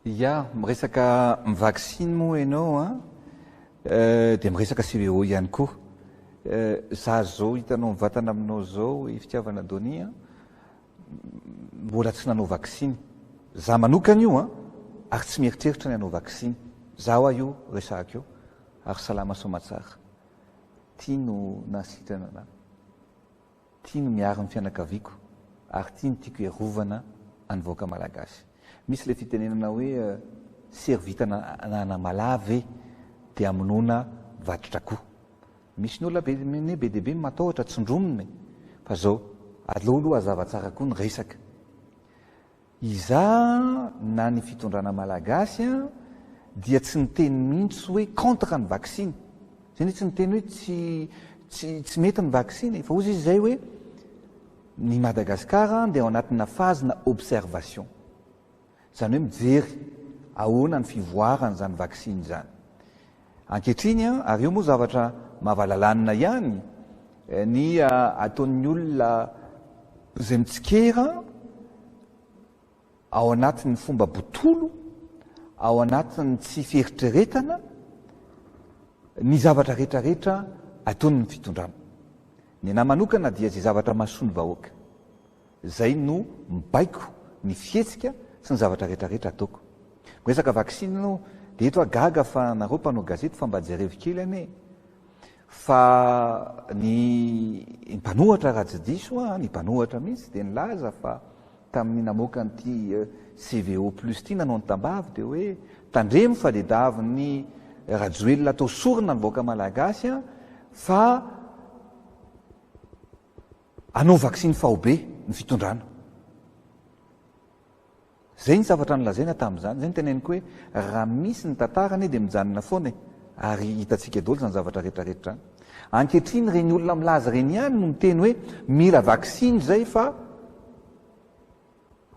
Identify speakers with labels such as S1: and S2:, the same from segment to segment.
S1: Ya, miresaka vaksiny moa ianao a, eh, dia miresaka CVO ihany koa. Eh, za zao hitanao mivantana aminao zao i fitiavana Donia, mbola tsy nanao vaksiny za manokana io an, ary tsy mieritreritra ny hanao vaksiny za hoa io resahako io, ary salama soamatsara, ty no nahasitrana anah, ty no miaro ny fianakaviako ary ty no tiako hiarovana any vahoaka malagasy, misy le fitenenana hoe sery vitana ananamalahy ve de amonoana vatotrakoo, Misy ny olona be ne be dia be no matahotra, tsindromina e! fa zao, aleo aloha hazava tsara koa ny resaka. Izaho na ny fitondrana malagasy an, dia tsy niteny mihitsy hoe contre ny vaksiny, zay ne tsy niteny hoe tsy tsy tsy mety ny vaksiny e! fa ozy izy zay hoe ny Madagascar dia ao anatina phase na observation. Izany hoe mijery ahoana ny fivoaran'izany vaksiny izany ankehitriny. Ary io moa zavatra mahavalalanina ihany ny ataon'ny olona izay mitsikera ao anatin'ny fomba botolo, ao anatin'ny tsy fieritreretana ny zavatra rehetrarehetra ataon'ny fitondrana. Ny anahy manokana dia izay zavatra mahasoa ny vahoaka. Izay no mibaiko ny fihetsika sy ny zavatra rehetra rehetra ataoko. Miresaka vaksiny enao dia eto aho gaga fa nareo mpanao gazety fa mba jerevo kely anie fa ny mpanohatra raha tsy diso aho ny mpanohatra mihitsy dia nilaza fa tamin'ny namoaka an'ity CVO plus ity nanao ny tambavy dia hoe tandremo fa dia davin'ny Rajoelina atao sorona ny vahoaka malagasy an fa Hanao vaksiny faobe ny fitondrana. Izay ny zavatra nolazaina tamin'izany. Izay no teneniko hoe raha misy ny tantara anie dia mijanona foana e! ary hitantsika daholo izany zavatra rehetrarehetra izany. Ankehitriny ireny olona milaza ireny ihany no miteny hoe mila vaksiny izay fa.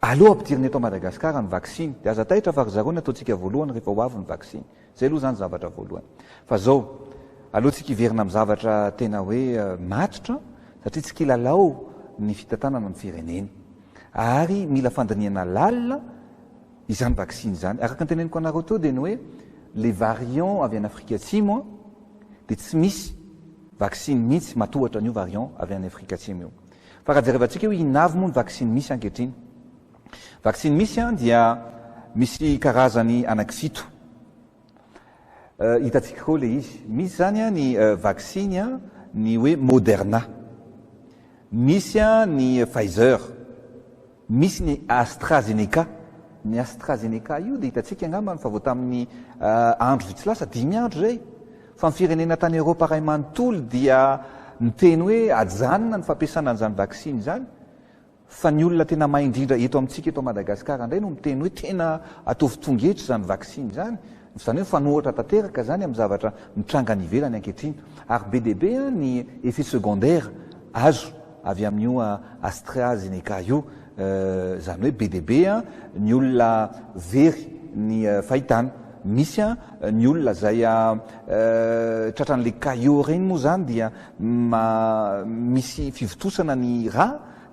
S1: Aleo ampidirina eto Madagascar ny vaksiny dia aza taitra fa ry zareo ny ataontsika voalohany rehefa ho avy ny vaksiny. Zay aloha zany zavatra voalohany. Fa zao, aleontsika hiverina amin'ny zavatra tena hoe matotra satria tsy kilalao ny fitantanana ny firenena. Ary mila fandinihana lalina izany vaksiny izany. Araka ny teneniko anareo teo dia ny hoe le variant avy any Afrika Atsimo dia tsy misy vaksiny mihitsy matohatra an'io variant avy any Afrika Atsimo io. Fa raha jerevantsika hoe inona avy moa ny vaksiny misy ankehitriny. Vaksiny misy dia misy karazany anaky fito. Hitantsika koa ilay izy. Misy izany ny vaksiny ny hoe Moderna. Misy ny Pfizer. Misy ny AstraZeneca. Ny AstraZeneca io dia hitantsika angambany fa vao tamin'ny andro vitsy lasa, dimy andro izay, fa ny firenena tany Eoropa iray manontolo dia niteny hoe ajanona ny fampiasana an'izany vaksiny izany, fa ny olona tena mahay indrindra eto amintsika eto Madagasikara indray no miteny hoe tena ataovy tonga hetra izany vaksiny izany, izany hoe mifanohitra tanteraka izany amin'ny zavatra mitranga any ivelany ankehitriny, ary be dia be ny effets secondaires azo. avy amin'io AstraZeneca io, izany hoe be dia be ny olona very ny fahitana. Misy ny olona izay tratran'ilay caillot ireny moa izany dia misy fivontosana ny rà,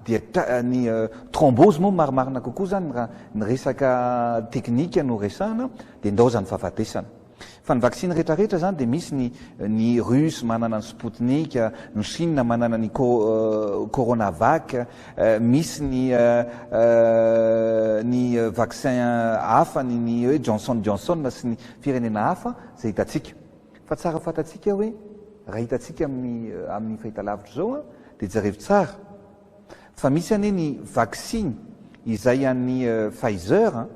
S1: dia ny thrombose moa marimarina kokoa izany raha ny resaka teknika no resahana, dia ndao izany fahafatesana. Fa ny vaksiny rehetra rehetra izany dia misy ny ny russe manana ny sputnik, ny chine manana ny co coronavac, misy ny ny vaccin hafa ny ny hoe Johnson Johnson sy ny firenena hafa izay hitantsika. Fa tsara fantatsika hoe raha hitantsika amin'ny amin'ny fahitalavitra izao an, dia jerevo tsara fa misy anie ny vaksiny izay an'ny Pfizer an,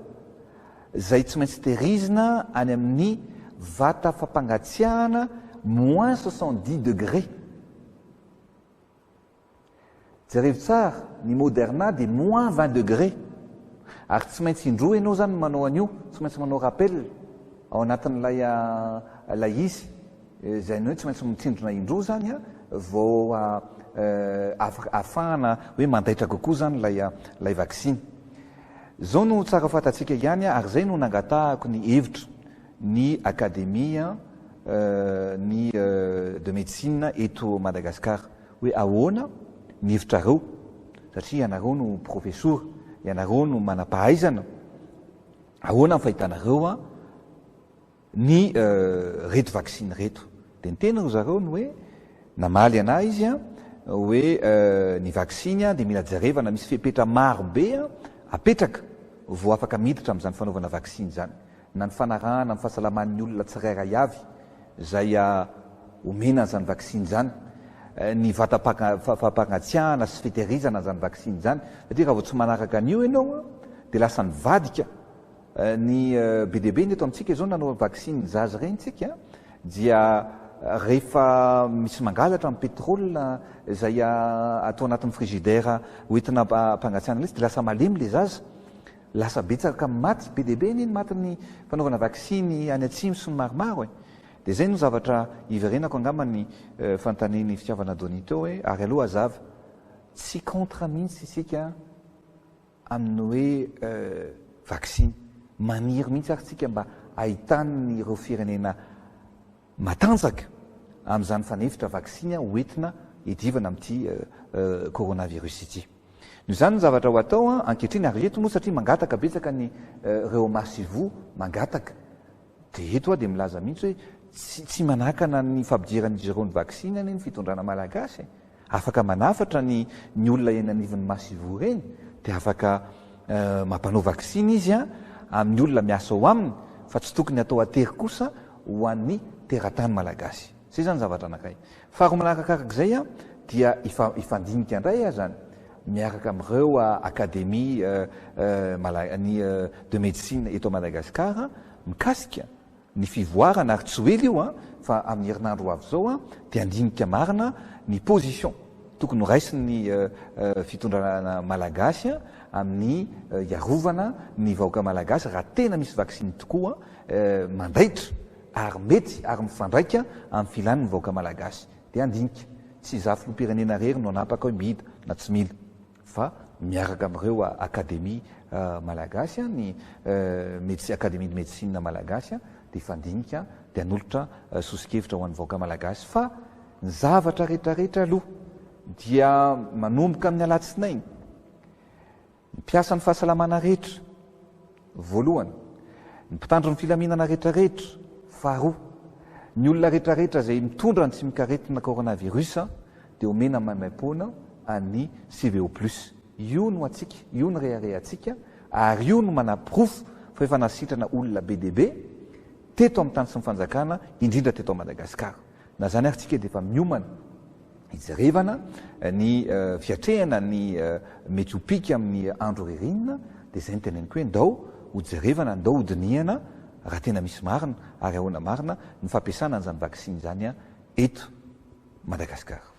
S1: izay tsy maintsy tehirizina any amin'ny vata fampangatsiahana moins soixante dix degré. Jerevo tsara, ny Moderna dia moins vingt degré. Ary tsy maintsy indroa ianao izany manao an'io, tsy maintsy manao rappel ao anatin'ilay ilay izy, izay ny hoe tsy maintsy mitsindrona indroa izany an, vao afaka ahafahana hoe mandaitra kokoa izany ilay ilay vaksiny. Izao no tsara fantatsika ihany ary izay no nangatahako ny hevitra ny Académie ny de médecine eto Madagascar hoe ahoana ny hevitrareo satria ianareo no profesora, ianareo no manam-pahaizana, ahoana ny fahitanareo an? ny reto vaksiny reto dia ny teny ry zareo ny hoe namaly anah izy a hoe ny vaksiny a dia mila jerevana misy fepetra maro be a apetraka vao afaka miditra amin'izany fanaovana vaksiny izany na ny fanarahana ny fahasalaman'ny olona tsirairay avy izay a omena an'izany vaksiny izany ny vatam-pagnatsiahana sy fitehirizana an'izany vaksiny izany satria raha vao tsy manaraka an'io ianao a dia lasa nivadika Ny be dia be ny eto amintsika izao nanao vaksiny ny zaza ireny tsika dia rehefa misy mangalatra ny pétrole izay atao anatin'ny frigidaire hoentina hampangatsiahana lesy dia lasa malemy ilay zaza, lasa betsaka ny maty, be dia be anie ny matin'ny fanaovana vaksiny any atsimo sy ny maromaro e! dia izay no zavatra hiverenako angamba ny fanontanian'i Fitiavana Donny teo hoe ary aloha hazava tsy contre mihitsy isika amin'ny hoe vaksiny. Maniry mihitsy ary tsika mba hahitan'ireo firenena matanjaka amin'izany fanefitra vaksiny ho entina hiadivana amin'ity coronavirus ity. Noho izany ny zavatra ho atao ankehitriny ary eto moa satria mangataka betsaka ny reo masivoho mangataka. Dia eto aho dia milaza mihitsy hoe tsy tsy manakana ny fampidiran'izy ireo ny vaksiny anie ny fitondrana malagasy e! Afaka manafatra ny ny olona eny anivon'ny masoivoho eny dia afaka mampanao vaksiny izy an amin'ny olona miasa ao aminy fa tsy tokony atao atery kosa ho an'ny teratany malagasy. Zay izany zavatra anakay. Faharoa manarakakaraka izay dia hifandinika indray aho zany miaraka amin'ireo Académie ny de médecine eto Madagascar mikasika ny fivoarana ary tsy ho ela io fa amin'ny herinandro ho avy izao dia handinika marina ny position tokony ho raisin'ny fitondrana Malagasy amin'ny hiarovana ny vahoaka Malagasy raha tena misy vaksiny tokoa mandaitra ary mety ary mifandraika amin'ny filan'ny vahoaka malagasy. Dia handinika, tsy izaho filoham-pirenena irery no hanapaka hoe mila na tsy mila, fa miaraka amin'ireo Akademia malagasy, ny Medecine, Akademia ny Medecine malagasy, dia hifandinika, dia hanolotra soso-kevitra ho an'ny vahoaka malagasy. Fa ny zavatra rehetra rehetra aloha dia manomboka amin'ny alatsinainy, Mpiasan'ny fahasalamana rehetra, voalohany, ny mpitandro ny filaminana rehetrarehetra, faharoa, ny olona rehetrarehetra izay mitondra ny tsimok'aretina coronavirus dia omena maimaimpoana an'ny CVO plus. Io no antsika, io no reharehantsika ary io no manaporofo fa efa nasitrana olona be dia be teto amin'ny tany sy ny fanjakana, indrindra teto Madagasikara. Na izany ary tsika dia efa miomana hijerevana ny fiatrehana ny mety ho pika amin'ny andro ririnina dia izay no teneniko hoe ndao hojerevana, ndao hodinihana raha tena misy marina ary ahoana marina ny fampiasana an'izany vaksiny izany eto Madagasikara.